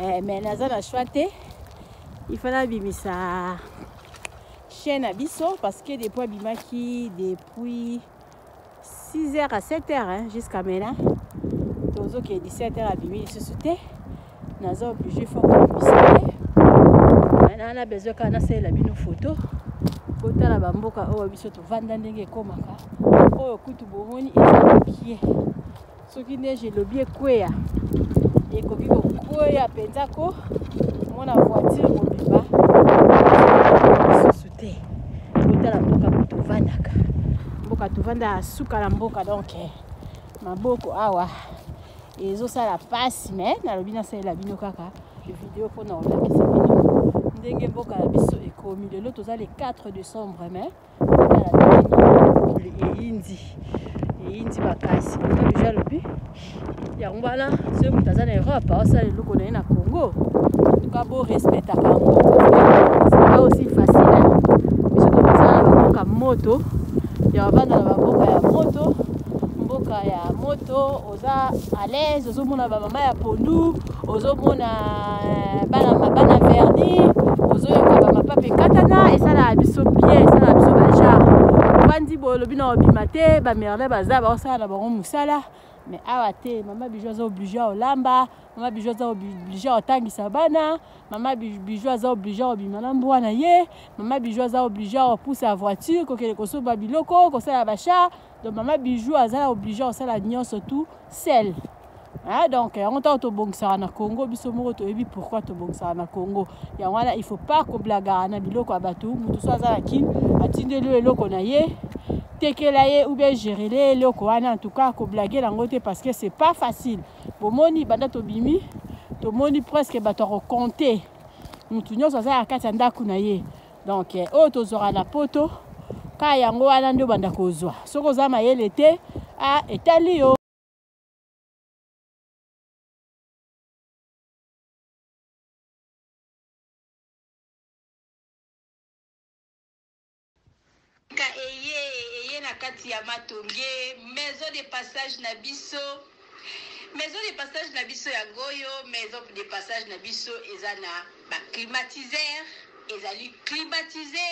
eh, mais naza na choix te il fallait abimisa chien na biso parce que depuis abimaki depuis 6 heures à 7 heures hein, jusqu'à maintenant tozokee 17 heures abimi lisusu te naza oblige fo kobimisa ye na na besoin kaka nasalela bino foto botala bamboka oyo biso tovanda ndenge ekomaka oyo kutu bomoni eza mopie soki neige elobi ekweya ekoki kokweya mpenza ko mona voiture mobimba lisusu te kotala mboka mpo tovandaka mboka tovanda suka na mboka donk eh, maboko awa ezosala mpasi me nalobi nasalela bino kaka video mpo na kolakisa bino ndenge mboka na biso ekomi lelo toza le 4 décembre mais eyindi eyindi makasi deja alobi yango wana soki moto aza na europe aosala eloko na ye na congo tuka borespectaka yango sika aussi facile biso tokosala na baboka moto ya bavanda na baboka ya moto mboka ya moto oza à l'aise ozomona bamama ya pondu ozomona euh, bana bana verni ozoyoka bamapape ekatana esalaka biso bien esalaka biso bajare obandi boye olobi na obima te bamerle baza baosala na bango mosala mais awa te mama bijou aza oblige ya olamba mama bijou aza oblige ya otangisa bana mama bijou aza oblige ya obima na mbwa na ye mama bijou aza oblige ya opusa voiture kokende kosomba biloko kosala bachar donc mama bijou aza oblige kosala nyonso tout sel Ah, donc yango ntango tobongisaka na congo biso moko toyebi pourkui tobongisaka na congo yango wana il faut pas koblagaka na biloko ya bato moto so aza na kin atindeli yo eloko na ye tekela ye ou bien gerele ye eloko wana en tout cas koblage yango te parce que c'est pas facile bomoni banda tobimi tomoni presque bato ya kokonte moto nyonso aza na kati ya ndako na ye donc eh, oyo tozwaka na poto ka yango wana nde obanda kozwa soki oza mayele te ah, etali yo Ka eye eye na kati ya matonge maison de passage na biso maison de passage na biso yango oyo maison de passage na biso eza na ba climatiseur ezali climatise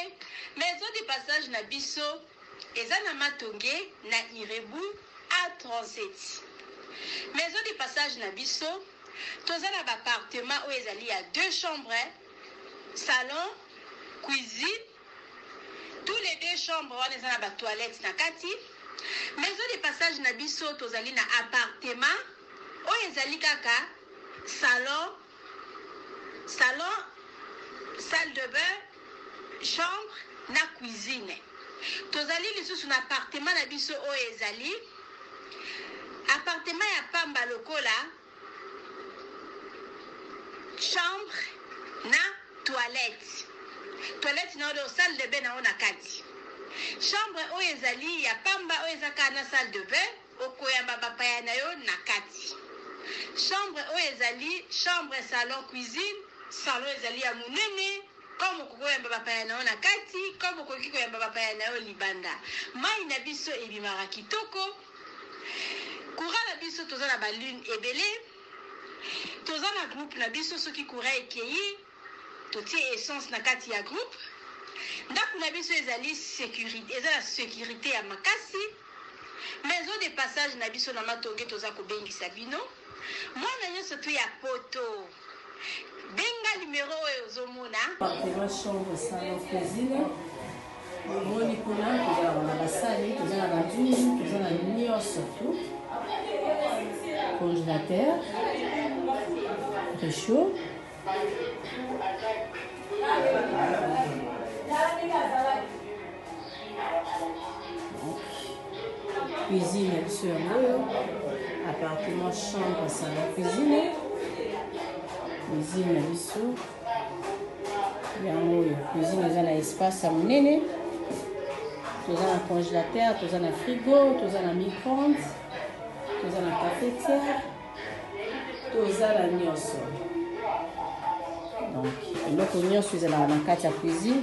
maison de passage na biso eza na matonge na irebu a 37 maison de passage na biso toza na ba appartement oyo ezali ya deux chambres salon cuisine Tout les deux chambre wana eza na ba toilettes na kati. Maison de passage na biso tozali na appartement oyo ezali kaka salon, salon, salle de bain, chambre na cuisine. Tozali lisusu na appartement na biso oyo ezali appartement ya pamba lokola Chambre na toilette. Toilette na yo donc salle de bain na yo na kati. Chambre oyo ezali ya pamba oyo eza kaka na salle de bain okoyamba bapaya na yo na kati. Chambre oyo ezali chambre, salon, cuisine. Salon ezali ya monene. Comme okoki koyamba bapaya na yo na kati, comme okoki koyamba bapaya na yo libanda. Mayi na biso ebimaka kitoko. Courant na biso toza na ba lune ebele. Toza na groupe na biso soki courant ekeyi totie essence na kati ya groupe. Ndaku na biso ezali securi eza na securite ya makasi. Maison de passage na biso na Matonge toza kobengisa bino. Mwana nionso tu ya poto. Benga numero oyo ozo mona. Bakoma chambre salon cuisine. Omoni kuna toza na basani, toza na banzungu, toza na nyonso tu. Congélateur, réchaud. cuisine ya biso yango oyo appartement chambre salon cuisine cuisine na biso yango oyo cuisine eza na espace ya monene toza na congélateur toza na frigo toza na micronde toza na cafetière toza na nyonso donc eloko nyonso ezalaka na kati ya cuisine